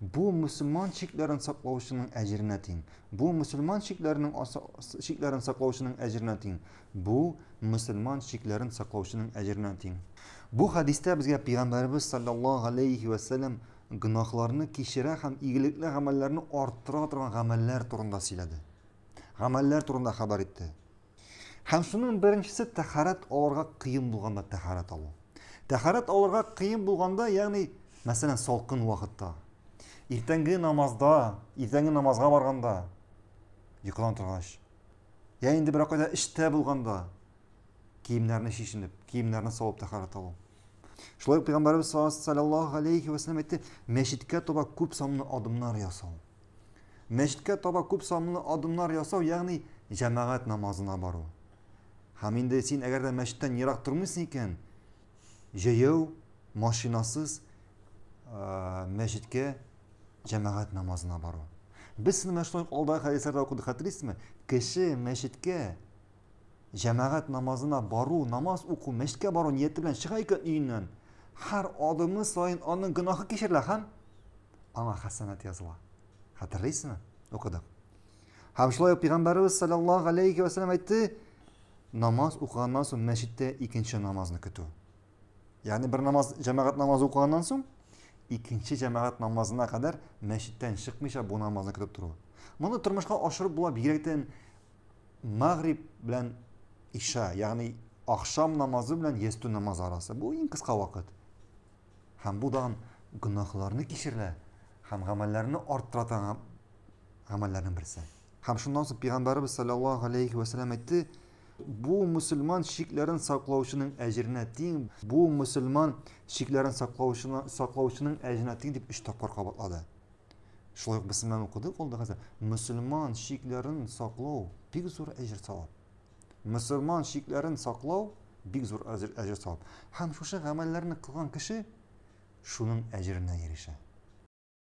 Бу мусульман чикләрен саклаучының әҗеренә тиң. Бу мусульман чикләренең чикләрен саклаучының әҗеренә тиң. Бу мусульман чикләрен саклаучының әҗеренә тиң. Бу хадистә безгә пәйгамбәрбез саллаллаһу алейхи ва саллям гөнаһларны кичерә һәм игелекле гамәлләрне арттыра торган гамәлләр турында сөйләде. Гамәлләр турында хәбәр итте. Һәм шуның беренчесе тәхарәт алырга кыен булганда тәхарәт алу. Тәхарәт алырга кыен булганда, ягъни, мәсәлән, салкын вакытта, иртәнге намазда, иртәнге намазга барганда, йокыдан торгач, я инде берәр кайда эштә булганда, киемнәрне шешенеп, киемнәрне салып тәхарәт алу. Шулай ук Пәйгамбәрбез саллаллаһу алейхи ва саллям әйтте, мәчеткә таба күп санлы адымнар ясау. Мәчеткә таба күп санлы адымнар ясау, ягъни җәмәгать намазына бару. Һәм инде син әгәр дә мәчеттән ерак тормыйсың икән, җәяү, машинасыз мәчеткә җәмәгать намазына бару. Без сине мәчеттән алда хәдисләрдә укыдык, хәтерлисезме? Кеше мәчеткә җәмәгать намазына бару, намаз уку, мәчеткә бару нияте белән чыга икән өеннән, һәр адымы саен аның гөнаһы кичерелә һәм аңа хәсәнәт языла. Хәтерлисезме? Укыдык. Һәм шулай ук Пәйгамбәребез саллаллаһу алейхи ва саллям әйтте, намаз укыганнан соң мәчеттә икенче намазны көтү. Ягъни бер намаз, җәмәгать намазы укыганнан соң икенче җәмәгать намазына кадәр мәчеттән чыкмыйча бу намазны көтеп тору. Моны тормышка ашырып була бигрәктән магриб белән иша, ягъни ахшам намазы белән ястү намазы арасы. Бу иң кыска вакыт. Һәм бу дан гөнаһларны кичерә һәм гамәлләрне арттыра торган гамәлләрнең берсе. Һәм шуннан соң Пәйгамбәребез саллаллаһу алейхи вә сәлләм әйтте, бу мөселман чикләрен саклаучының әҗеренә тиң, бу мөселман чикләрен саклаучына саклаучының әҗеренә тиң дип өч тапкыр кабатлады. Шулай ук без синнән укыдык ул да хәзер. Мөселман чикләрен саклау бик зур әҗер савап. мөселман шикләрен саклау бик зур әҗер савап. Һәм шушы гамәлләрне кылган кеше шуның әҗеренә ирешә.